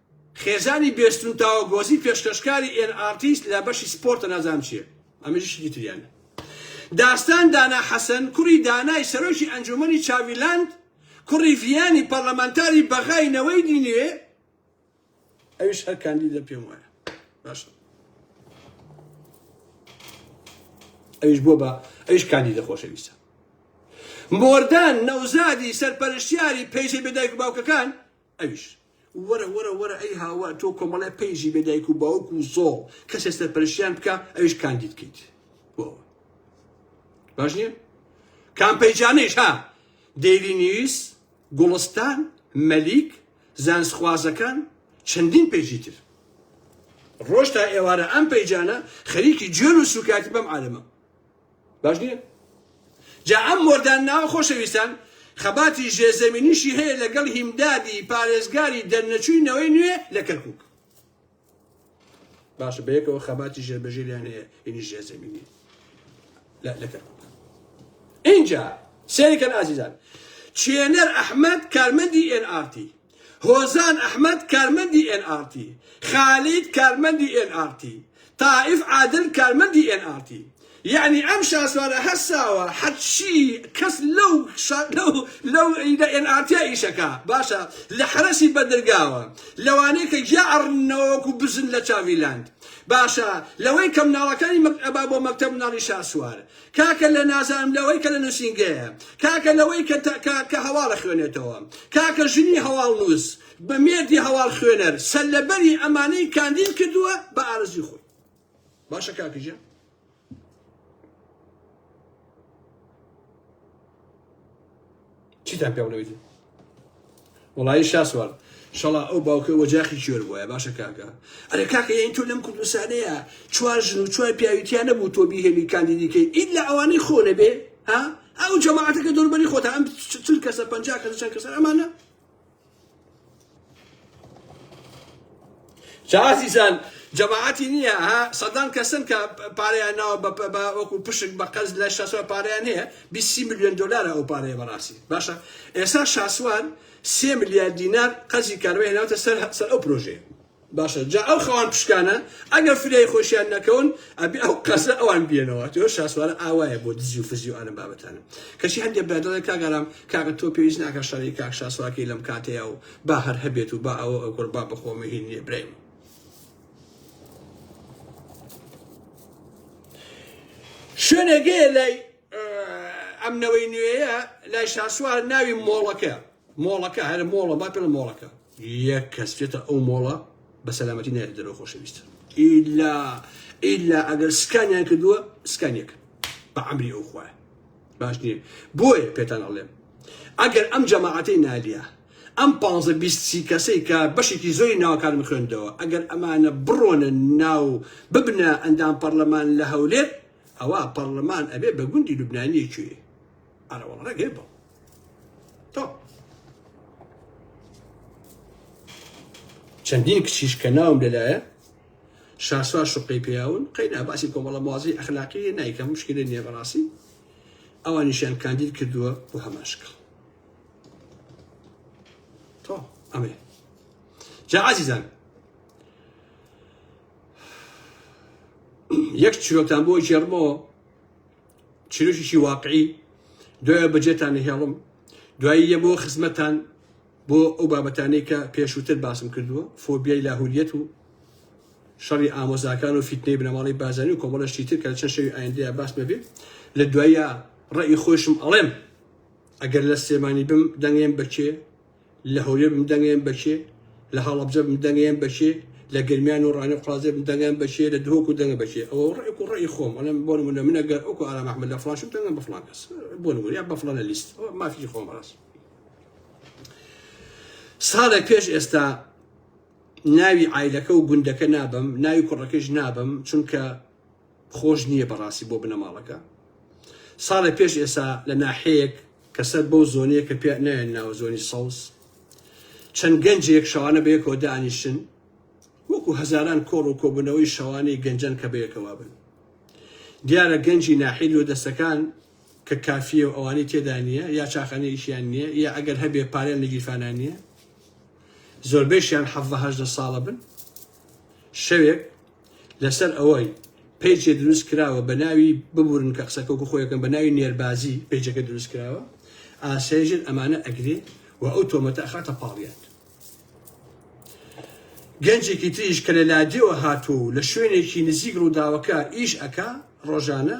خێزانی بێستن و تاوەگۆزی پێشکەشکاری ئێن ئارتیست لە بەشی سپۆرتە نازانم چیە ئەمەژی شتی تریانە داستان دانا حەسەن کوڕی دانای سەرۆکی ئەنجومەنی چاڤیلاند کوڕی ڤیانی پەڕلەمانتاری بەغای نەوەی دی نوێ ئەویش هەر کاندیدە پێم وایە باشە ئەویش بۆ بە ئەویش کاندیدە خۆشەویستە مۆردان نەوزادی سەرپەرشتیاری پەیجە بێدایک و باوکەکان ئەویش وەرە وەرە وەرە ئەی هاوار تۆ کۆمەڵێ پەیژی بێ دایک و باوک و زۆڵ کەسێ سەرپەرشیان بکە ئەویش کاندید کەیت باش نییە کام پەیجانەیش ها دەیلی نیوز گوڵستان مەلیک زانسخوازەکان چەندین پێژی تر ڕۆژ تا ئێوارە ئەم پەیجانە خەریکی جوێن و سوکایەتی بەم عالەمە باش نیە؟ جا ئەم مۆردان ناوە خۆشەویستان خەباتی ژێرزەمینیشی هەیە لەگەڵ هیمدادی پارێزگاری دەرنەچووی نەوەی نوێ لە کەرکوک باشە بەیەکەوە خەباتی ژێربەژێریان هەیە ئینی ژێرزەمینی لە کەرکوک اینجا سێریکەن ئازیزان چێنەر ئەحمد کارمەندی ئێن ئارتی هۆزان ئەحمەد کارمەندی ئێن ئاڕ تی، خالید کارمەندی ئێن ئاڕ تی، تائیف عادل کارمەندی ئێن ئاڕ تی. یەعنی ئەم شاسوارە هەر ساوە حەچی کەس لەو لەو لە ئێن ئاڕ تیا ئیش ئەکا باشە لە حەرەسی بەدرگاوە لەوانەی کە گیا ئەڕننەوە وەکو بزن لە چاڤی لاند باشە لەوەی کە مناڵەکانی مەک ئەبا بۆ مەکتەب مناڵی شاسوار کاکە لە نازانم لەوەی کە لە نووسینگەیە، کاکە لەوەی کە کە کە هەواڵ ئەخوێنێتەوە، کاکە ژنی هەواڵنووس، بە مێردی هەواڵ خوێنەر، سەرلەبەری ئەمانەی کاندید کردووە بە ئارەزووی خۆی. باشە کاکە ژیان؟ چیتان پێ بڵێویت وڵایی شاسوار شەڵا ئەو باوکە وەجاخی کێر بووە باشە کاکە ئەرێ کاکە یەین تۆ لەم کوردستانەیە چوار ژن و چوار پیاویتیان نەبوو تۆ بیهێنی کاندیدیکەی ئید لە ئەوانەی خۆ نەبێ ها ئەو جەماعەتەکە دەوربەری خۆتە ئەم چل کەسە پەنجا کەسە چەند کەسە ئەمانە جا ئازیزان جەماعەتی نییە ها سەدان کەسن کە پارەیان ناوە بە بە وەکو پشک بە قەز لە شاسوار پارەیان هەیە 20 میلیۆن دلارە ئەو پارەیە بەڕاستی باشە ئێستا شاسوار سێ ملیار دینار قەزی کارەبای هێناوەتە سەر سەر ئەو پرۆژەیە باشە جا ئەو خەوان پشکانە ئەگەر فریای خۆشیان نەکەون ئەبێ ئەو قەزە ئەوان بێنەوە تۆ شاسوارە ئاوایە بۆ دزی و فزی و ئەلم بابەتانە کەچی هەندێک برا دەڵێ کاگەرام کاکە تۆ پێویست ناکە شەڕی کاک شاسوارکەی لەم کاتەیە و با هەر هەبێت و با ئەوە ئەو قوربا بخۆمە هین نیە برای من شوێنێک هەیە لای ئەم نەوەی نوێیە لای شاسوار ناوی مۆڵەکە مۆڵەکە هەر مۆڵە با پێڵ مۆڵەکە یەک کەس بێتە ئەو مۆڵە بە سەلامەتی نایێت دەرەوە خۆشەویست ئیلا ئیلا ئەگەر سکانیان کردووە سکانیەک بە ئەمری ئەو خوای باش نییە بۆیە پێتان ئەڵێم ئەگەر ئەم جەماعەتەی نالیا ئەم پ بیستی کەسەی کە بەشێکی زۆری ناوکارم خوێندەوە ئەگەر ئەمانە بڕۆنە ناو ببنە ئەندام پەرلەمان لە هەولێر ئەوا پەڕلەمان ئەبێ بە گوندی لوبنانیە کوێ ئەرە وەڵا ڕێگەی بەڵ تۆ چەندین کچیش کە ناوم لەلایە شاسوا شقی پیاون قەینا باسی کۆمەڵە موازی ئەخلاقی نایکە مشکلی نییە بەڕاستی ئەوانیشیان کاندید کردووە بۆ هەماشکڵ تۆ ئەمێ جا عزیزان یەک چیرۆکتان بۆ ژێرمەوە چیرۆکیشی واقعی دوای بەجێتان نهێڵم دوایی یە بۆ خزمەتان بۆ ئەو بابەتانەی کە پێشووتر باسم کردووە فۆبیای لاهوریەت و شەڕی ئامۆزاکان و فیتنەی بنەماڵی بازانی و کۆمەڵەشتی تر کە چەند شەوی ئایندەیە باس ببێت لە دوایە ڕێی خۆشم ئەڵێم ئەگەر لە سلێمانی بم دەنگێن بەچێ لە هەولێر بم دەنگەیەم بە کێ؟ لە هەڵەبجە بم دەنگەیەم بە کێ؟ لە گەرمیان و ڕانێ و قوڕازێ بم دەنگەیەم بە کێ؟ لە دهۆک و دەنگە بە کێ؟ ئەوە ڕێک و ڕێی خۆم ئەڵێم بۆ نموونە من ئەگەر وەکو ئارام ئەحمەد لە فڵان شم دەنگەم بە فڵان کەس بۆ نموونە یا بە فڵانە لیست مافی خۆم ڕاست ساڵێک پێش ئێستا ناوی عیلەکە و گوندەکە نابم ناوی کوڕەکەش نابم چونکە خۆش نییە بەڕاستی بۆ بنەماڵەکە ساڵێ پێش ئێسا لە ناحەیەک کە سەر بەو زۆنیە کە پێ نایەن ناوە زۆنی سەوز چەند گەنجێک شەوانە بەیەکەوە دانیشن وەکو هەزاران کۆڕ و کۆبوونەوەی شەوانەی گەنجەن کە بەیەکەوە بن دیارە گەنجی ناحی لۆ دەستەکان کە کافیە و ئەوانی تێدا نییە یا چاخانە ئیشیان نییە یا ئەگەر هەبێ پارێن لە گیرفانان نییە زۆربەیشیان حەڤە هەژدە ساڵە بن شەوێک لەسەر ئەوەی پەیجێ دروست کراوە بە ناوی ببورن کە قسەکە وەکو خۆی ئەکەم بە ناوی نێربازی پەیجەکە دروست کراوە ئاسایشت ئەمانە ئەگرێ و ئەو تۆمەتە ئەخاتە پاڵیان گەنجێکی تریش کە لە لادێوە هاتوو و لە شوێنێکی نزیک ڕووداوەکە ئیش ئەکا ڕۆژانە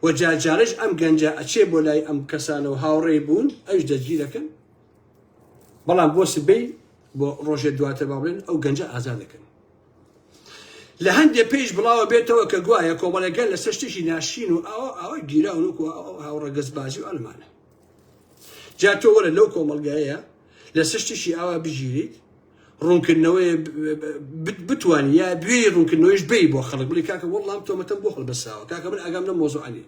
و جارجارش ئەم گەنجە ئەچێ بۆ لای ئەم کەسانە و هاوڕێ بوون ئەوش دەستگیر دەکەن بەڵام بۆ سبەی بۆ ڕۆژێ دواتر با بڵێن ئەو گەنجە ئازاد دەکەن لە هەندێ پێیش بڵاوە بێتەوە کە گوایە کۆمەڵەکە لەسەر شتێکی ناشین و ئاوا ئاوا گیراون وەکو ئاو ڕەگەزبازی و ئەلمانە جا تۆ وەرە لەو کۆمەلگایە لە سشتیشی ئاوا بگیریت ڕوونکردنەوەی بتوانین یا بێ ڕوونکردنەوەیش بی بۆ خەڵک بڵی کاکە وەڵام تۆمەتەم بۆ هەڵبەساوە کاکە من ئەگەم لە مۆزوعانی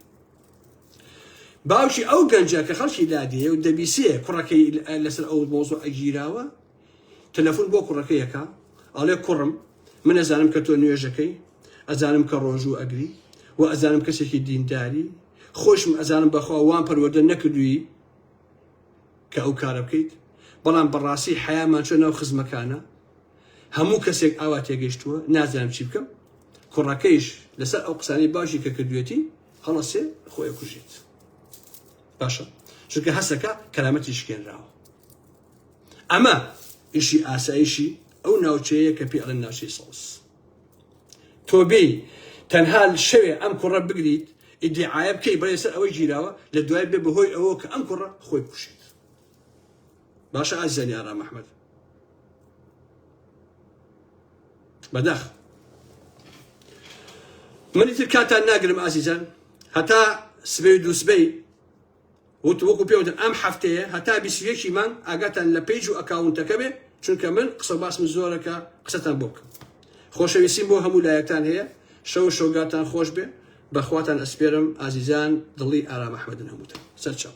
باوکی ئەو گەنجە کە خەڵکی لادێ و دەبیسێ کوڕەکەی لەسەر ئەو مۆزوع ئەگیراوە تەلەفون بۆ کوڕەکەی ئەکا ئەڵێ کوڕم من ئەزانم کە تۆ نوێژەکەی ئەزانم کە ڕۆژوو ئەگری و ئەزانم کەسێکی دینداری خۆشم ئەزانم بەخوا وام پەروەردە نەکردووی کە ئەو کارە بکەیت بەڵام بەڕاستی حەیامان چۆ ناو خزمەکانە هەموو کەسێک ئاوا تێگەشتووە نازانم چی بکەم کوڕەکەیش لەسەر ئەو قسانی باشی کە کردوێتی هەڵەسێ خۆی کوژێت باشە چونکە هەسەکە کەرامەتی شکێنراوە ئەمە ئیشی ئاسایشی ئەو ناوچەیە کە پێ ئەڵێن ناوچەی سەوز تۆ بێی تەنها شەوێ ئەم کوڕە بگریت ئیدعاە بکەی بەڵێ سەر ئەوەی گیراوە لە دوای بێ بەهۆی ئەوە کە ئەم کوڕە خۆی کوشێت باشە ئازیزانی ئارام ئەحمەد بەداخ منی تر کاتان ناگرم ئازیزان هەتا سبەی و دووسبەی وت وەکو پێوتم ئەم هەفتەیە هەتا بیست و یەک ی مانگ ئاگاتان لە پەیج و ئەکاونتەکە بێ چونکە من قسەو باسم زۆرە کە قسەتان بۆ بکەم خۆشەویستیم بۆ هەموو لایەکتان هەیە شەو و شۆگاتان خۆش بێ بەخواتان ئەسپێرم ئازیزان دڵی ئارام ئەحمەدن هەمووتان سەرچاو.